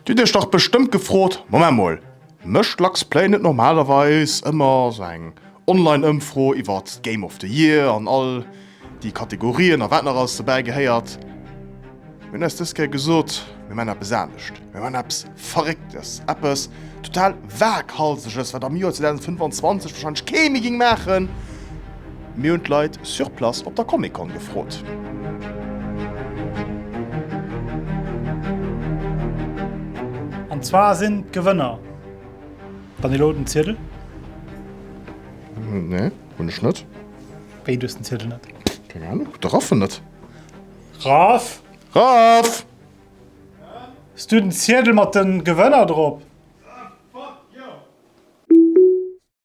Dir hutt iech dach bestëmmt gefrot, Moment mol, mécht Lux Play net normalerweis ëmmer sou eng Online-Ëmfro iwwert d'Game of the Year an all déi Kategorien a wat nach alles dobäi gehéiert? Mir hunn eis dës Kéier gesot, mir maachen eppes anescht, mir maachen eppes Verrécktes, eppes total Waaghalseges, wat am Joer 2025 warscheinlech kee méi géing maachen. Mir hunn d'Leit sur place op der Comic-Con gefrot. An zwar sinn d'Gewënner, wann elo den Ziedel. Nee, hunn ech net. Wéi, du hues den Ziedel net? Keng Ahnung, de Raff en net. Raff! Raff! Hues du den Ziedel mat den Gewënner drop?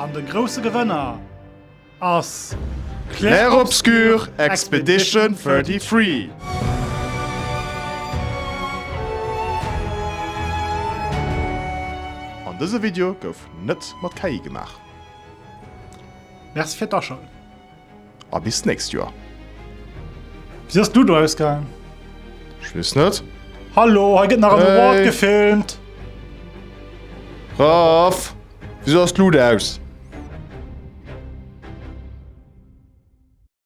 An de grousse Gewënner ass Clair Obscur Expedition 33! An dëse Video gouf net mat KI gemaach. Merci fir d'Aschalten. a bis d'nächst Joer. Wéi ass d'Ludo ausgaangen? Ech weess net. Hallo, hei gëtt nach en Award gefilmt! Raff, wisou ass d'Luut aus?